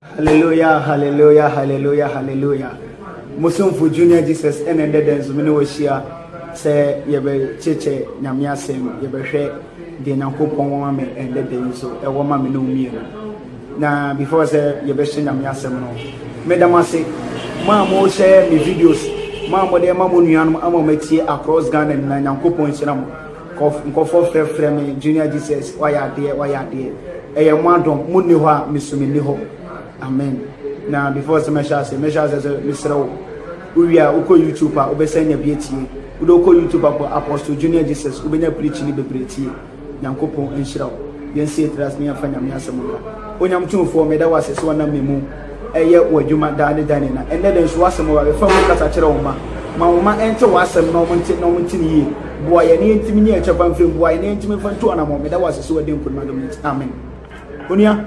Hallelujah, hallelujah, hallelujah, hallelujah. Musumfo Junior Jesus ɛna ɛdɛ dɛ nso mene wɔhyia sɛ yɛbɛkyekyɛ Nyame asɛm, yɛbɛhwɛ deɛ Nyankopɔn wɔ ma me ɛdɛ dɛ nso ɛwɔ ma me ne wo mmienu. Na before sɛ yɛbɛhyɛ Nyame asɛm no, meda mo ase mo a mo share me videos, mo a mo de ma mo nuanom ama wɔn atie across Ghana nyinaa, Nyankopɔn nhyira mo. Kɔf, nkɔfoɔ frɛ frɛ me, Junior Jesus, wayɛ adeɛ, wayɛ adeɛ. Ɛyɛ mo adom, mo nni hɔ a, me so me nni hɔ. Amen. Na before sɛ mɛhyɛ ase, mɛhyɛ ase sɛ mesrɛ wo, wowie a wokɔ YouTube a, wobɛsan nya bi atie. Wode wokɔ YouTube a, bɔ Apostle Junior Jesus, wobɛnya preaching bebree atie. Nyankopɔn nhyira wo. Yɛnsi yɛtiri ase na yɛnfa Nyame asɛm nka. Onyame Tumfoɔ, meda wo ase sɛ wonam me mu ɛyɛ w'adwuma daa ne daa nyina. Ɛnnɛ da nso w'asɛm wɔ bɛfa mu kasa kyerɛ wo mma. Ma wo mma nte w'asɛm na wɔn nte na wɔn nte no yie. Boa yɛn na yɛntumi nyɛ yɛn kyɛfa mfiri mu. Boa yɛn na yɛntumi mfa ntu anammɔn. Meda wo ase sɛ w'adi nkunim adom no nti. Amen. Onua,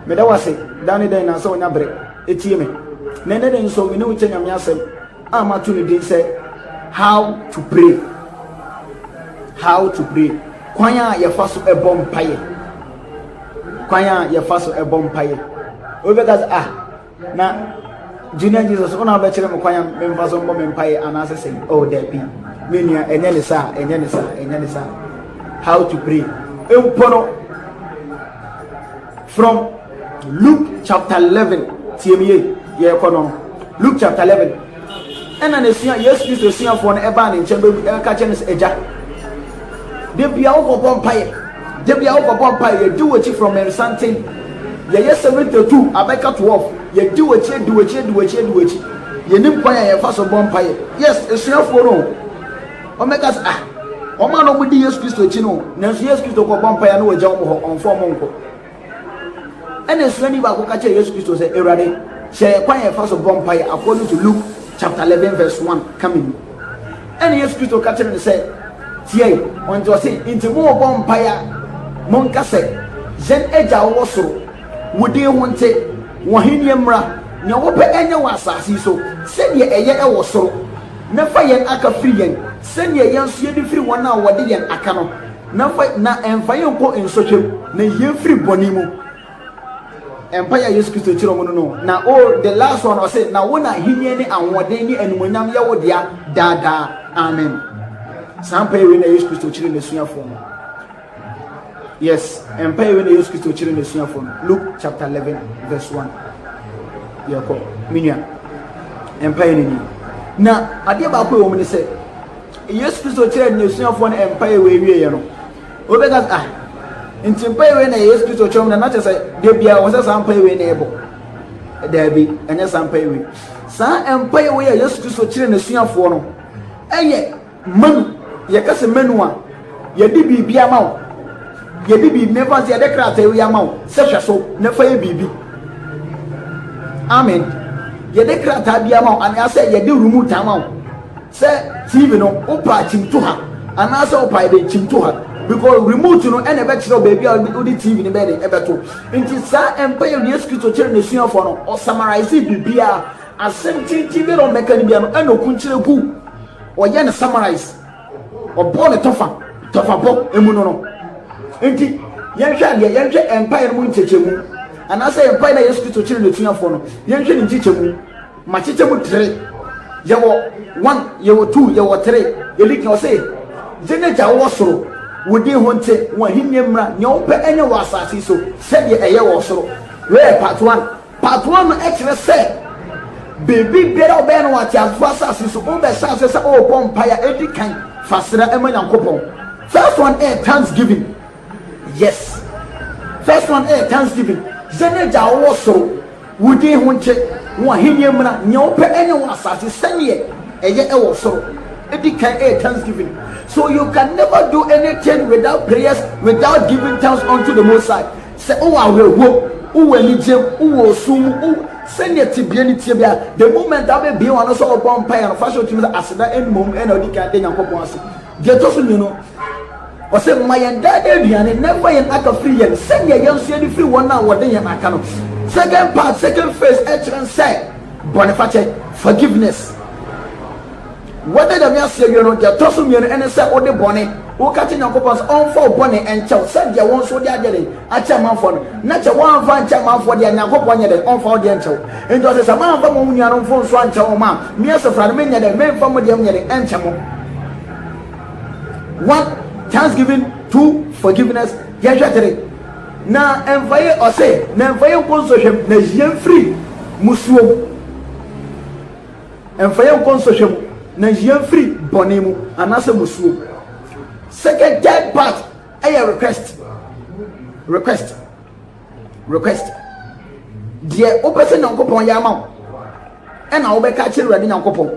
meda wo ase daa ne daa nyina sɛ wonya bere etie me. Na ɛnnɛ da nso me ne wo kyɛ Nyame asɛm. a mato no din sɛ How to Pray. How to Pray. Kwan a yɛfa so bɔ mpaeɛ. Kwan a yɛfa so bɔ mpaeɛ. Wobɛka sɛ ah na junior jesus wọn a bɛkyerɛ mu kwan a memfa so mbɔ me mpaeɛ anaasɛ sɛ oh daabi me nua ɛnyɛ ne saa ɛnyɛ ne saa ɛnyɛ ne saa how to pray mpo no From Luke chapter eleven, tie me yie, yɛrekɔ no. Luke chapter eleven, ɛna n'asua Yesu Kristo asuafoɔ no ɛbaa ne nkyɛn bɛbu ɛka kyerɛ no sɛ agya. Da bia wokɔbɔ mpaeɛ, da bia wokɔbɔ mpaeɛ, yɛdi w'akyi from nsanten. Yɛyɛ seventy two abɛka twelve, yɛdi w'akyi, adi w'akyi, adi w'akyi, adi w'akyi. Yɛnim kwan a yɛfa so bɔ mpaeɛ. Yes, asuafoɔ no. Wɔbɛka sɛ, Ah, wɔn a na wɔdi Yesu Kristo akyi no, nanso Yesu Kristo kɔ bɔ mpaeɛ na wɔgya wɔn hɔ, ɔmfa wɔn nkɔ. Ɛna asuani baako ka kyerɛ Yesu Kristo sɛ, Awurade, hyɛ yɛn kwan yɛn fa so bɔ mpaeɛ according to Luke chapter eleven verse one ka mi mu. Ɛna Yesu Kristo ka kyerɛ no sɛ, Tiɛ, wɔn ti ɔse, nti mo bɔ mpaeɛ mo nka sɛ, yɛn agya wɔ soro, wo din ho nte, wɔn hennie mmra, nea wɔpɛ ɛnyɛ wɔ asase so sɛdeɛ ɛyɛ ɛwɔ soro. na fa yɛn aka firi yɛn, sɛdeɛ yɛn nso yɛde firi wɔn a wɔde yɛn aka no, na fa, na mfa yɛn nkɔ nsɔhwɛ mu, na yi yɛn firi bɔne mu. Mpaeɛ a Yesu Kristo kyerɛ wɔn no no, na o, the last one, ɔse, na wo na ahennie ne ahoɔden ne animuonyam yɛ wo dea daa daa. Amen. Saa mpaeɛ wei na Yesu Kristo kyerɛɛ n'asuafoɔ no. Yes, ɛmpae wei na Yesu Kristo kyerɛ n'asuafo no, Luke chapter 11 verse 1. Yɛkɔ, me nua. Ɛmpae no ni. Na adeɛ baako ɛwɔ mu ne sɛ, Yesu Kristo kyerɛ n'asuafo no ɛmpae wei wieɛ no, wobɛka sɛ, ah, nti mpae wei na yɛ Yesu Kristo kyerɛ mu na na kyerɛ sɛ, da biara wɔ sɛ saa mpae wei na ɛbɔ. Daabi, ɛnyɛ saa mpae wei. Saa mpae wei a Yesu Kristo kyerɛ n'asuafoɔ no, ɛyɛ Manu, yɛka sɛ manu a, yɛde biribi ama wo. Yɛde biribi, mefa sɛ yɛde krataa yi ama wo sɛ hwɛ so na fa yɛ biribi. Amen. Yɛde krataa bi ama wo anaasɛ yɛde remote ama wo sɛ TV no wopa kyimto ha anaasɛ wopa yɛde kyimto ha because remote no ɛna ɛbɛkyerɛ baabi a wode TV no bɛyɛ de ɛbɛto. Nti saa ɛmpa yɛ Yesu Kristo kyerɛ n'asuafoɔ no ɔsamarise biribiara asɛm tenten bi na ɔmmɛka no bia no ɛna ɔkunkyerɛ gu Ɔyɛ no summarize, ɔbɔ no tɔfa tɔfa bɔ emu no no. Nti yɛnhwɛ adeɛ, yɛnhwɛ mpaeɛ no mu nkyekyɛmu anaasɛ mpaeɛ na Yesu Kristo kyerɛ n'asuafoɔ no, yɛnhwɛ ne nkyekyɛmu. Makyekyɛ mu tere. Yɛwɔ one, yɛwɔ two, yɛwɔ three. Ɛdi kan ɔse, Yɛn Agya a wowɔ soro, wo din ho nte, w'ahennie mmra, nea wopɛ nyɛ wɔ asase so sɛdeɛ ɛyɛ wɔ soro. Wei yɛ part one. Patoa no kyerɛ sɛ biribi biara a wobɛyɛ no wɔ ateasefo asase so, wobɛhyɛ ase sɛ worebɔ mpae a edi kan fa srɛ ma Nyankopɔn. First one yɛ thanksgiving. Yes. First one yɛ thanksgiving. Sɛ ne Agya a ɔwɔ soro, wo din ho nte, wo ahenni mmra, nea wopɛ nyɛ wɔ asase sɛdeɛ ɛyɛ wɔ soro. Edi kan yɛ thanksgiving. So you can never do anything without prayers, without giving thanks unto the Most High. Sɛ wowɔ awerɛhoɔ mu, wowɔ anigyeɛ mu, wowɔ ɔsuu mu, wo sɛdeɛ tebea no teɛ biara, the moment a wobɛbue w'ano sɛ wobɔ mpaeɛ no, fa hyɛ wo tirim sɛ aseda mmom na wodi kan da Nyankopɔn ase. Deɛ ɛtɔ so mmienu, Ɔse, Ma yɛn daa daa aduane, na mfa yɛn aka firi yɛn, sɛdeɛ yɛn nso yɛde firi wɔn a wɔde yɛn aka no. Second part, second phase, ɛkyerɛ sɛ, bɔnefakyɛ, forgiveness. Wada Nyame ase awie no, deɛ ɛtɔ so mmienu ɛne sɛ wode bɔne, woka kyerɛ Nyankopɔn sɛ ɔmfa wo bɔne ɛnkyɛ wo, sɛdeɛ wo nso wode adeɛ dɛn, akyɛ amanfoɔ no, na kyɛ woamfa ankyɛ amanfoɔ deɛ a, Nyankopɔn nyɛ dɛn, ɔmfa wo deɛ nkyɛ wo. Enti ɔse, sɛ moamfa mo nuanom mfomsoɔ ankyɛ wɔn a, me Asafo no, menyɛ dɛn, memfa mo deɛ nyɛ dɛn, ɛnkyɛ mo. One, Thanksgiving, two, Forgiveness, yɛnhwɛ three. Na ɛmfa yɛ, ɔse, na ɛmfa yɛ nkɔ nsɔhwɛm, na yie mfiri musuom. Ɛmfa yɛn nkɔ nsɔhwɛ mu, na nyi yɛn mfiri bɔne mu, anaasɛ mmusuo mu. Second third part yɛ request request request deɛ wopɛ sɛ nyankopɔn yɛ ama wo ɛna wobɛka akyerɛ awurade nyankopɔn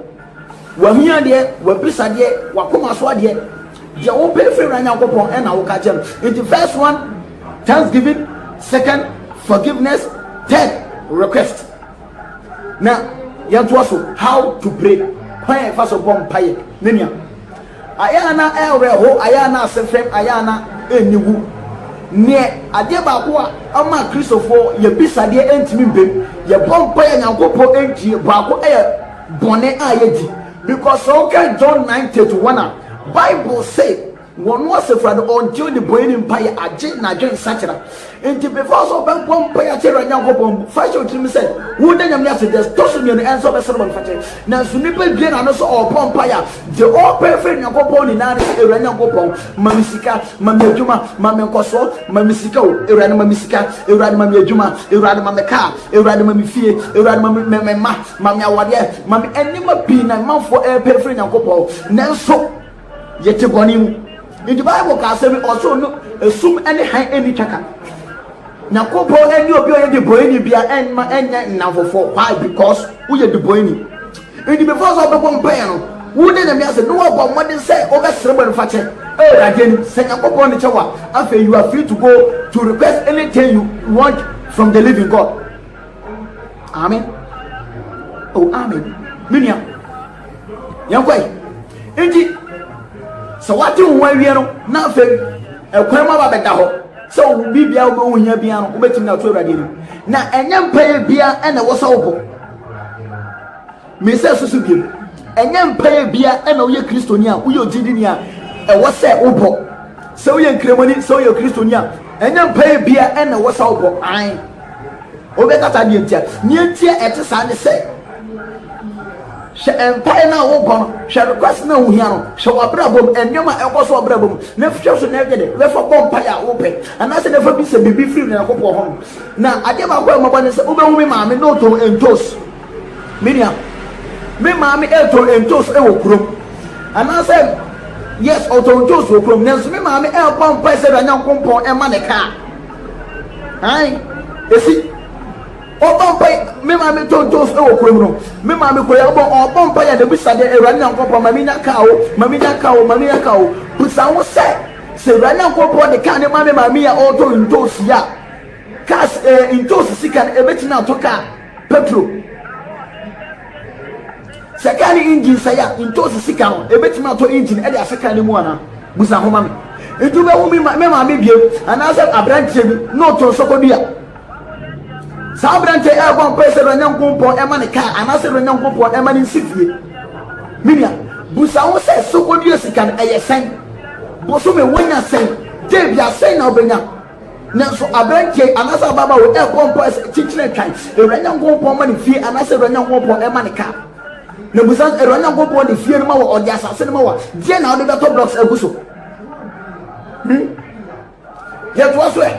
wahia deɛ wabisa deɛ wakoma so adeɛ deɛ wopɛ firi awurade nyankopɔn ɛna woka akyerɛ no nti first one thanksgiving second forgiveness third request na yɛntoa so how to pray kwan a yɛfa so bɔ mpaeɛ ne nea ayɛ a na ɛreho ayɛ a na ase fɛm ayɛ a na ɛnni wu neɛ adeɛ baako a ama kristofoɔ yɛbisadeɛ ɛntumi mbem yɛbɔ mpaeɛ nyankopɔ ɛntie baako ɛyɛ bɔne a yɛdi because sɛ woka John 9:31 a Bible say Wɔn asefra no ɔntew ne bɔn ne mpae agye n'adwen sakyera. Enti before sɛ ɔbɛbɔ mpae akyɛ Awurade Nyankopɔn mu, fa hyɛ wo tirim sɛ woda Nyame no ase, deɛ ɛtɔ so mmienu ɛnsɛ ɔbɛsrɛ bɔne fakyɛ. Nanso nipa due n'ano sɛ ɔɔbɔ mpae a, deɛ ɔɔpɛ afiri Nyankopɔn nyinaa ne sɛ, Awurade Nyankopɔn, ma me sika, ma me adwuma, ma me nkɔsoɔ, ma me sika o, Awurade ma me sika, Awurade ma me adwuma, Awurade ma me kaa, Awurade ma me fie, Awurade ma me me mma, ma me awadeɛ, ma me nneɛma pii na manfoɔ ɛɛpɛ afiri Nyankopɔn. Nanso. Yɛte bɔne mu. Nti Bible ka asɛm bi, ɔsoro no esum ne hann nni twaka. Nyankopɔn ɛne obi ɔyɛ de bɔne bia ɛnma ɛnyɛ nnamfofoɔ. Why? Because woyɛ de bɔne. Nti before sɛ ɔbɛbɔ mpaeɛ no, wo ne Nyame asɛ, ne wɔbɔ mmɔden sɛ wobɛsrɛ bɔne fakyɛ. Awurade anim. Sɛ Nyankopɔn de kyɛ wo a, afei you are free to go to request anything you want from the living God. Amen. Oh, amen. Menua. yɛnkɔe nti sɛ wate wo ho awie no na afei ɛkwan mu aba bɛda hɔ sɛ wo biribia wobɛwo hia bia no wobɛtumi na ato awurade anim na ɛnyɛ mpaeɛ bia ɛna ɛwɔ sɛ wobɔ mesɛ susu biom ɛnyɛ mpaeɛ bia ɛna woyɛ kristoni a woyɛ ogyidini a ɛwɔ sɛ wobɔ sɛ woyɛ nkramoni sɛ woyɛ kristoni a ɛnyɛ mpaeɛ bia ɛna ɛwɔ sɛ wobɔ an Wobɛka saa deɛ nti a, nea nti a ɛte saa ne sɛ, hwɛ mpaeɛ no a wobɔ no, hwɛ request no a wohia no, hwɛ w'abrabɔ mu, nneɛma a ɛkɔ so w'abrabɔ mu, na hwɛ so na ɛgye de bɛfa bɔ mpaeɛ a wopɛ, anaasɛ na ɛfa bisa biribi firi Onyankopɔn hɔ. Na adeɛ baako a mmɔbɔ ne sɛ wobɛhu me maame na ɔtɔn ntos. Me nua, me maame ɛretɔn ntos wɔ kurom, anaasɛ yes ɔtɔn ntos wɔ kurom, nanso me maame ɛrebɔ mpaeɛ sɛ Awurade Nyankopɔn ɛma ne kaa. Ae, esi. Ɔbɔ mpae, me maame tontos wɔ kurom no, me maame kɔ yi, ɔbɔ, ɔbɔ mpae a n'abisa deɛ, Awurade Nyankopɔn, ma menya kaa o, ma menya kaa o, ma menya kaa o. Bisa ho sɛ, sɛ Awurade Nyankopɔn de kaa no ma me maame yi a ɔretɔ ntoosi a, cars, eh, ntoosi sika no, ɛbɛtumi ato kaa? Petro, Sɛ kaa no engine sɛe a, ntoosi sika no, ebetumi atɔ engine de ahyɛ kaa no mu anaa? Busa ho ma me. Nti wobɛhu me ma me maame biam anaasɛ aberanteɛ bi na ɔtɔn sɔkɔdua? Saa aberanteɛ yi ɛrebɔ mpae sɛ Onyankopɔn ɛma ne kaa anaasɛ Onyankopɔn ɛma ne nsi fie. Me nua, busa ho sɛ sɔkɔdua sika no ɛyɛ sɛn? Bosome wonya sɛn? Debia sɛn na wobɛnya? Nanso aberanteɛ yi anaasɛ ababaa wei ɛrebɔ mpaeɛ sɛ, Kyekyere me twan, Awurade Nyankopɔn ma no fie anaasɛ Awurade Nyankopɔn ɛma no car. Na bisa no, Awurade Nyankopɔn de fie no ma wɔ, ɔde asase no ma wɔ, deɛ na wode bɛtɔ blocks agu so? Hmm? Yɛtoa so ɛ.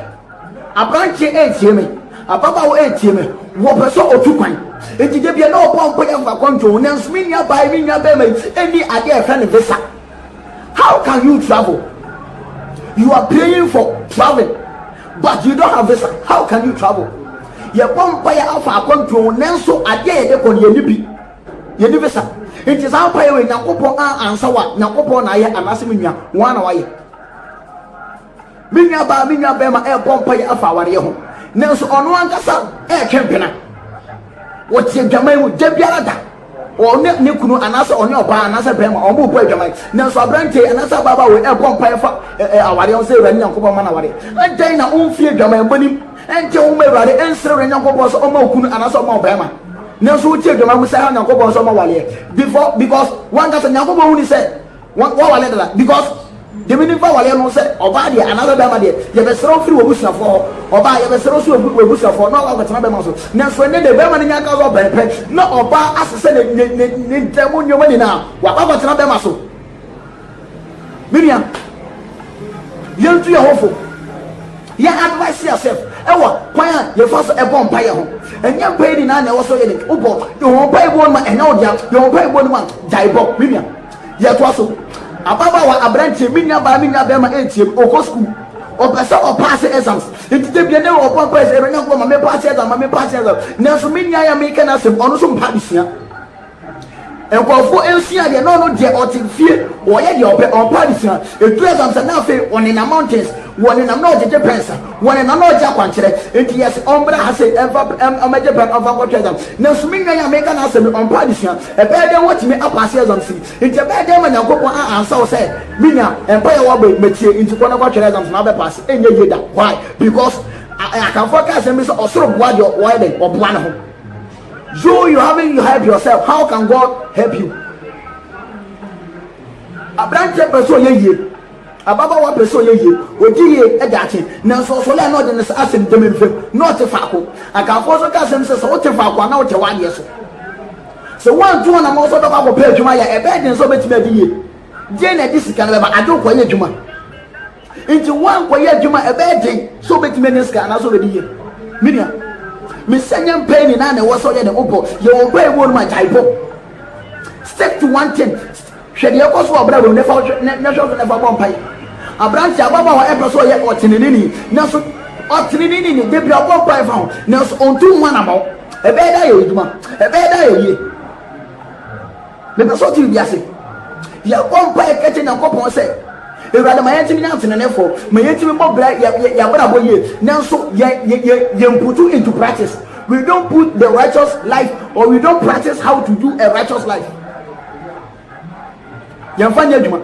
Aberanteɛ ɛntie me, ababaawa ɛntie me, wɔpɛ sɛ ɔtu kwan. Nti da bia na ɔbɔ mpaeɛ fa kɔntoo, nanso me nua baa yi, me nua bɛrima yi, ɛni adeɛ ɛfɛ no visa. How can you travel? You are praying for traveling but you don't have visa. How can you travel? Yɛbɔ mpaeɛ afa akwantuo ho nanso adeɛ a yɛde kɔ no yɛni bi. Yɛni visa. Nti saa mpaeɛ wei Nyankopɔn a ansa wa Nyankopɔn na ayɛ anaasɛ me nua wɔn na wayɛ. Me nuabaa me nuabarima rebɔ mpaeɛ afa awareɛ ho, nanso ɔno ankasa retwe mpena. Wɔte adwaman mu da biara da. Ɔne ne kunu anaasɛ ɔne ɔbaa anaasɛ barima wɔn rebɔ adwaman. Nanso aberanteɛ yi anaasɛ ababaawa wei rebɔ mpaeɛ fa ɛ ɛ awareɛ ho sɛ Awurade Nyankopɔn ma no awareɛ. Adɛn na womfi adwaman bɔ no mu nte ho ma Awurade nsrɛ Awurade Nyankopɔn sɛ ɔmma wo kunu anaasɛ ɔmma wo barima? Nanso wote adwaman mu sɛ ha Nyankopɔn sɛ ɔmma awareɛ before because wo ankasa Nyankopɔn hunu sɛ Wa wawale dada because demi nimfa awaleɛ no sɛ ɔbaa deɛ anaasɛ bɛrima deɛ yɛbɛsrɛ wo firi w'abusuafoɔ hɔ ɔbaa yɛbɛsrɛ wo so wɔ w'abusuafoɔ na wakɔ akɔtena bɛrima so nanso ɛnɛ deɛ bɛrima no nya ka sɛ ɔbɛn pɛ na ɔbaa asesɛ ne ne ne ne ntɛm mu nneɛma nyinaa wakɔ akɔtena bɛrima so menua yɛntu yɛ ho fo. Yɛ advice yourself ɛwɔ kwan a yɛfa so ɛbɔ mpaeɛ ho. Ɛnyɛ mpaeɛ nyinaa na ɛwɔ sɛ woyɛ dɛn? Wobɔ. Yɛ wɔn mpaeɛ boɔ no ma ɛnyɛ wo dea. Yɛ wɔn mpaeɛ boɔ no ma gyae bɔ. Me nua. Yɛtoa so. Ababaawa, abranteɛ, me nua baa, me nua bɛɛma ɛntie me. Ɔkɔ school. Ɔpɛ sɛ ɔpaase exams. Nti da biara na ɔbɔ mpaeɛ sɛ, Awurade Nyankopɔn ma me paase exams, ma me paase exams. Nanso me nua yi a mereka n'asɛm, ɔno nso mpa adesua. Nkurɔfoɔ nsua adeɛ na ɔno deɛ ɔte fie ɔyɛ deɛ ɔpɛ ɔmpɛ adesua ɛduru exam sɛ na afei ɔnenam mountains wɔnenam na ɔgyegye pens a wɔnenam na ɔgye akwankyerɛ nti yɛse ɔmbra ha sei ɛmfa ɔmɛgye pɛn ɔmfa nkɔtɔ exam nanso me nua yi a meka no asɛm yi ɔmpɛ adesua ɛbɛyɛ dɛn watumi apaase exams yi nti ɛbɛyɛ dɛn ma Nyankopɔn a ansa wo sɛ me nua mpaeɛ wabɔ yi matie nti kɔ na kɔtwerɛ exams na wabɛpaase ɛnyɛ yie da why because Akanfoɔ ka asɛm bi sɛ ɔsoro boa deɛ ɔyɛ dɛn ɔboa ne ho. You you haven't you help yourself how can God help you? Aberanteɛ pɛ sɛ ɔyɛ yie ababaawa pɛ sɛ ɔyɛ yie ɔdi yie ɛda akye nanso ɔsɔle a na ɔde ne asɛm dɛm mfam na ɔte faako akanfoɔ nso ka asɛm sɛ sɛ wote faako a na wotɛ w'adeɛ so sɛ woantu hɔ nam ɔsɔ bɛkɔ akɔpɛ adwuma yɛ ɛbɛyɛ den sɛ wobɛtumi adi yie deɛ na ɛde sika no bɛba ade wokɔyɛ adwuma Nti woankɔyɛ adwuma a ɛbɛyɛ den sɛ wobɛtumi anya sika anaasɛ wobɛdi yie. Me nua, mesɛ nyɛ mpae nyinaa na ɛwɔ sɛ ɔyɛ dɛn wobɔ. Yɛ wo mpae mu onum a gyae bɔ. Stick to one thing. Hwɛ deɛ ɛkɔ so wɔ abrabɔ mu na fa hwɛ so na fa bɔ mpae. Aberanteɛ, ababaawa a ɛpɛ sɛ ɔyɛ ɔteneneeni nanso ɔteneneeni no, da biara ɔbɔ mpae fa ho nanso ɔntu ho anammɔn. Ɛbɛyɛ dɛ ayɛ adwuma? Ɛbɛyɛ dɛ ayɛ yie? Mepɛ sɛ ɔte biribi ase. Yɛbɔ mpaeɛ ka kyerɛ Nyankopɔn sɛ, Awurade, ma yɛntumi nyɛ ateneneefoɔ, ma yɛntumi bɔ bra yɛ, yɛ, yɛn abrabɔ yie, nanso yɛ, yɛ, yɛ, yɛmputu into practice. We don't put the righteous life or we don't practice how to do a righteous life. Yɛmfa nyɛ adwuma.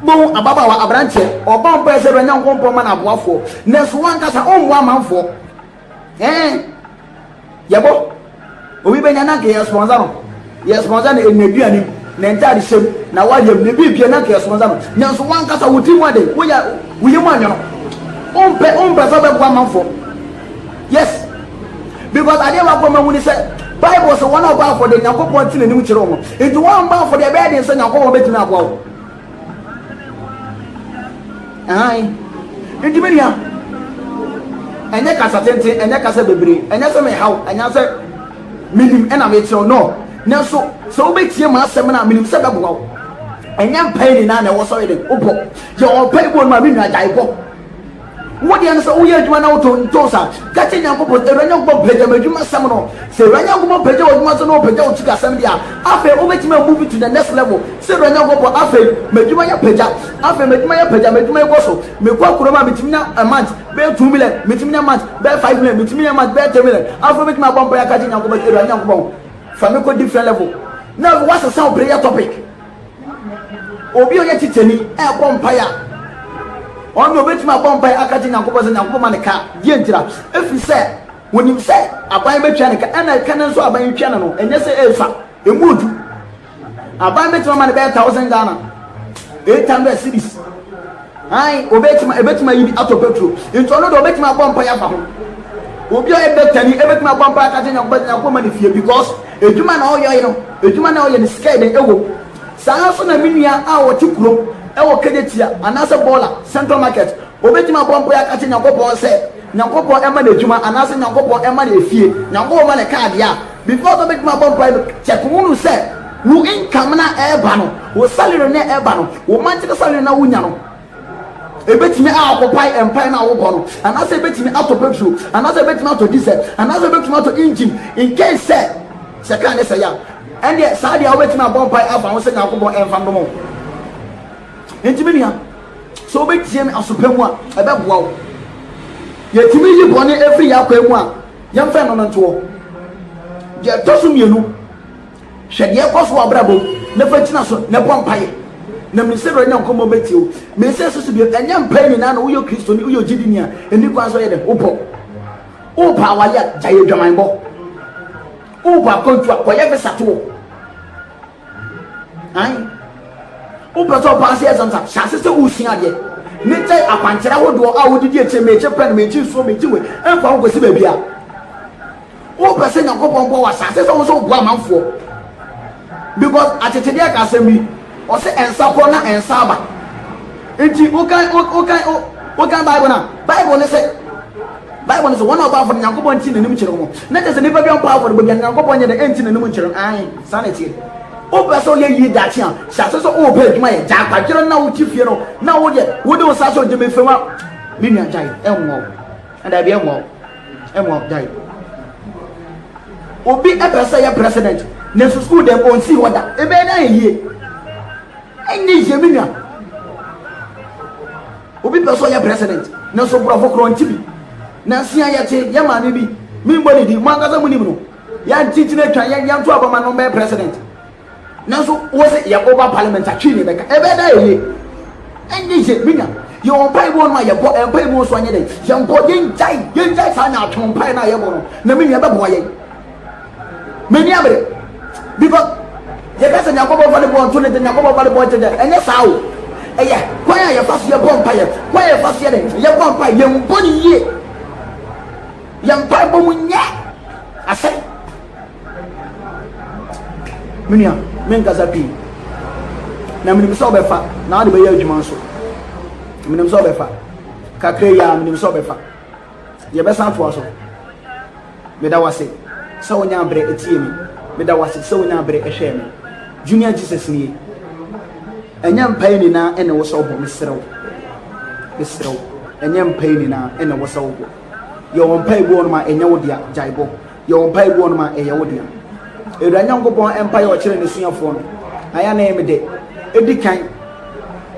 Bohu ababaawa aberanteɛ, ɔbɔ mpaeɛ sɛ Awurade Nyankopɔn ma no aboafoɔ, nanso wankasa ɔmmoa amanfoɔ. Hɛn yɛbɔ obi bɛnya na nka yɛ spɔnsa no, yɛ spɔnsa no n'eduan mu, ne ntar hyɛ mu, n'awaryɛ mu, ne biribiara na nka yɛ spɔnsa no, nanso wankasa wo tsirmu adɛn, wo ya wo yamu anwe no, ommpɛ ommpɛ sɛ ɔbɛboa amamfo, yes, because adeɛ baako a mahu ne sɛ Bible sɛ wɔn a ɔbɔ afɔdeɛ Nyankopɔn te n'anim kyerɛ wɔn, nti wɔn a ɔmbɔ afɔdeɛ ɛbɛyɛ den sɛ Nyankopɔn bɛtumi aboa wo. Aane, nti me nua, ɛnyɛ kasa tenten, ɛnyɛ kasa bebree, ɛnyɛ sɛ mehaw, ɛnyɛ sɛ menim ɛna mekyerɛw, no, nanso sɛ wobɛtie m'asɛm no a, menim sɛ ɛbɛboa wo. Ɛnyɛ mpae nyinaa na ɛwɔ sɛ ɔyɛ dɛn? Wobɔ. Yɛ ɔmpaebɔ no ma me nua, gyae bɔ. Wo deɛ no sɛ woyɛ adwuma na wotɔ ntɔs a, ka kyerɛ Nyankopɔn sɛ, Awurade Nyankopɔn pagya m'adwuma sɛm no. Sɛ Awurade Nyankopɔn pagya w'adwuma so na ɔpagya wo sikasɛm deɛ a, afei wobɛtumi a move to the next level. Sɛ Awurade Nyankopɔn afei m'adwuma yi apagya, afei m'adwuma yi apagya, m'adwuma yi kɔ so, mekɔ kurom a metumi nya a month bɛyɛ two million, metumi nya month bɛyɛ five million, metumi nya month bɛyɛ ten million. Afei wobɛtumi abɔ mpaeɛ aka kyerɛ Nyankopɔn sɛ, Awurade Nyankopɔn fa me kɔ different level. Na afei woasesa wo prayer topic. Obi a ɔyɛ titenani rebɔ mpaeɛ a, ɔno deɛ ɔbɛtumi abɔ mpaeɛ aka kyerɛ Nyankopɔn sɛ Nyankopɔn ma ne ka. Deɛ ntira, ɛfiri sɛ wɔnim sɛ aban bɛtwa ne ka, ɛna ɛka no nso aban twa no no, ɛnyɛ sɛ ɛresua, ɛmu odu. Aban bɛtumi ama no bɛyɛ thousand Ghana, eight hundred cities. Ae, obetumi, ebetumi ayi bi atɔ Petro, nti ɔno de obetumi abɔ mpae afa ho. Obi a ɔyɛ dɔktani, ebetumi abɔ mpae aka akyerɛ Nyankopɔn sɛ Nyankopɔn mma no fie, because adwuma na ɔyɔe no, adwuma na ɔyɛ no sika yɛ den ɛwom. Saa ara nso na me nua a ɔte kurom ɛwɔ Kejetia anaasɛ Bɔla, Central Market, obetumi abɔ mpae aka akyerɛ Nyankopɔn sɛ Nyankopɔn ɛma no adwuma anaasɛ Nyankopɔn ɛma no efie, Nyankopɔn ma no kaa deɛ a, Because wobɛtumi abɔ mpae no kyɛk hunu sɛ wo income no a ɛreba no, wo salary no a ɛreba no, wo monthly salary no a wonya no, ɛbɛtumi a occupy mpae no a wobɔ no, anaasɛ ɛbɛtumi atɔ petrol, anaasɛ ɛbɛtumi atɔ diesel, anaasɛ ɛbɛtumi atɔ engine, in case sɛ sɛ kaa no sɛe a, ɛndeɛ saa deɛ wobɛtumi abɔ mpae afa ho sɛ Nyankopɔn ɛmfa nnom wo. Nti me nua, sɛ wobɛtie me aso pa mu a, ɛbɛboa wo. Yɛtumi yi bɔne ɛfiri yɛn akwan mu a, Yɛmfa ɛno no ntoɔ. Deɛ ɛtɔ so mmienu, hwɛ deɛ ɛkɔ so wɔ abrabɔ mu na fa gyina so na bɔ mpaeɛ. Na mene sɛ Awurade Nyankopɔn bɛtie wo. Mene sɛ ɛsɛ so bio, ɛnyɛ mpaeɛ nyinaa na woyɛ Kristoni, woyɛ ogyidini a, ɛni kwan sɛ ɔyɛ dɛ, wobɔ. Wopɛ awale a, gyae adwamanbɔ. Wopɛ akwantuo a, kɔyɛ visa toɔ. Ayi. Wopɛ sɛ ɔpaa sɛ ɛsɛm sa, hyɛ ase sɛ wosua adeɛ. Ne kyɛ akwankyerɛ ahodoɔ a wodidi akyire mekye pɛn, mekye nsuo, mekye wei, ɛmfa wo kɔsi baabi a. Wopɛ sɛ Nyankopɔn boa wo ahyɛ ase sɛ wo sɛ woboa amanfoɔ. Because akyekyedeɛ ka asɛm bi, ɔse ɛnsa kɔ na ɛnsa aba. Nti wokan wokan wokan Bible na Bible ne sɛ Bible ne sɛ wɔn a wɔbɔ afɔre Nyankopɔn nti n'anim kyerɛ wɔn. Na kyerɛ sɛ nipa bi ampɔ afɔrebɔ bi a Nyankopɔn nyɛ dɛ ɛnti n'anim nkyerɛ no. Ae. Saa na ɛteɛ. Wopɛ sɛ woyɛ yie daakye a, hyɛ ase sɛ wopɛ adwuma yɛ. Gyae kwadwere na wote fie no na wodeɛ wode wo nsa sɔ gyemefam a, me nua gyae. Ɛmmoa wo. Daabi, ɛmmoa wo. Ɛmmoa wo. Gyae. Obi pɛ sɛ yɛ president nanso sukuu dɛm ɔnsi hɔ da. Ɛbɛyɛ dɛ ayɛ yie. Ɛnyɛ yie me nua. Obi pɛ sɛ ɔyɛ president nanso borɔfo korɔ nti bi. Nansia yɛte yɛ maame bi, membɔ ne din, mo ankasa monim no. yɛn kyikyiri atwa yɛn yɛn to aba ma no bɛyɛ president nanso wɔ sɛ yɛ ɔba parliament atwi ne bɛka ɛbɛyɛ dɛ ɛyɛ ɛnyɛ yɛ minya yɛ wɔn mpae mu ɔno a yɛbɔ yɛn mpae mu nso anyɛ dɛ yɛn bɔ yɛn gyae yɛn gyae saa na atwe mpae na yɛbɔ no na mi nua bɛboa yɛn mɛ ni abere because yɛ kasa nyakɔbɔ fa ne bɔ nto ne de nyakɔbɔ fa ne bɔ nto de ɛnyɛ saa o ɛyɛ kwan a yɛfa so yɛbɔ mpaeɛ kwan a yɛfa so yɛ dɛ yɛbɔ mpaeɛ yɛn bɔ ne yie yɛ mpaebɔ mu nyɛ asɛm me nua menkasa pii na menim sɛ wobɛfa na wode bɛyɛ adwuma nso menim sɛ wobɛfa kakra yi a menim sɛ wobɛfa yɛbɛsan atoa so meda wase sɛ wonya aberɛ ɛtie me meda wase sɛ wonya aberɛ ɛhwɛɛ me junior jesus nie ɛnyɛ mpae nyinaa ɛna wɔ sɛ wobɔ meserɛ wo meserɛ wo ɛnyɛ mpae nyinaa ɛna wɔ sɛ wobɔ Yɛ wɔn mpae gu wɔn a ɛnyɛ wo dea, gyae bɔ. Yɛ wɔn mpae gu wɔn a ɛyɛ wo dea. Awurade Nyankopɔn mpae a ɔkyerɛ n'asuafoɔ no, na yɛ na ɛyɛ me dɛ. Ɛdi kan,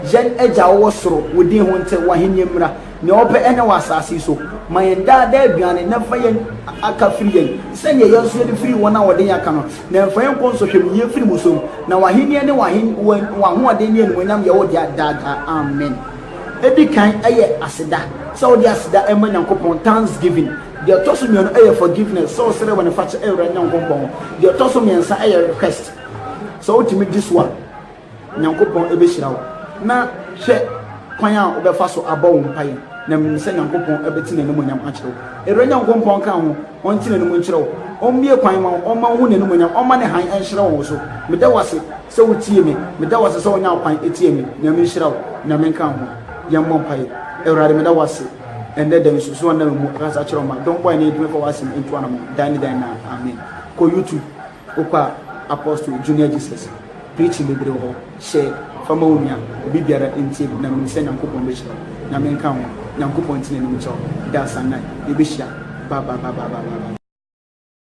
Yɛn Agya a ɔwɔ soro, wo din ho nte, w'ahennie mmra, nea wopɛ nyɛ wɔ asase yi so. Ma yɛn daa daa aduane, na fa yɛn aka firi yɛn, sɛdeɛ yɛn nso yɛde firi wɔn a wɔde yɛn aka no, na mfa yɛn nkɔ nsɔhwɛmuyie firi mu so. Na w'ahennie ne w'ahoɔden ne animuonyam yɛ wo dea daa daa. Amen. Edi kan yɛ aseda, sɛ wode aseda rema Nyankopɔn, thanksgiving. Deɛ ɔtɔ so mmienu yɛ forgiveness, sɛ wosrɛ bɔne fakyɛ wɔ Awurade Nyankopɔn hɔ. Deɛ ɔtɔ so mmiɛnsa yɛ request. Sɛ wotumi di so a, Nyankopɔn bɛhyira wo. Na hwɛ kwan a wobɛfa so abɔ wo mpaeɛ, na menim sɛ Nyankopɔn bɛte n'animuonyam akyerɛ wo. Awurade Nyankopɔn nka wo ho, ɔnte n'anim nkyerɛ wo, ɔmmue kwan mma wo, ɔmma wohu n'animuonyam, ɔmma ne hann nhyerɛn wɔ wo so. Meda wo ase. sɛ wotie me. Meda wo ase sɛ wonya kwan tie me. Nyame nhyira wo. Nyame nka ho. Yɛmmɔ mpaeɛ. Awurade, meda wo ase ɛnnɛ da yi nso so wɔnam mu akasa kyerɛ ɔma dɔm bɔe ne ɛdwuma fa w'asɛm ntu anamɔ dan ne dan na amen. Kɔ YouTube wokɔ a Apostle Junior Jesus preaching bebree wɔ hɔ. Hyɛ fama wo nua obi biara ntie na menim sɛ Nyankopɔn bɛhyira wo. Nyame nka ho. Nyankopɔn ntene anim nkyɛ wo. Da asanna yɛbɛhyia. Bye bye bye bye bye bye.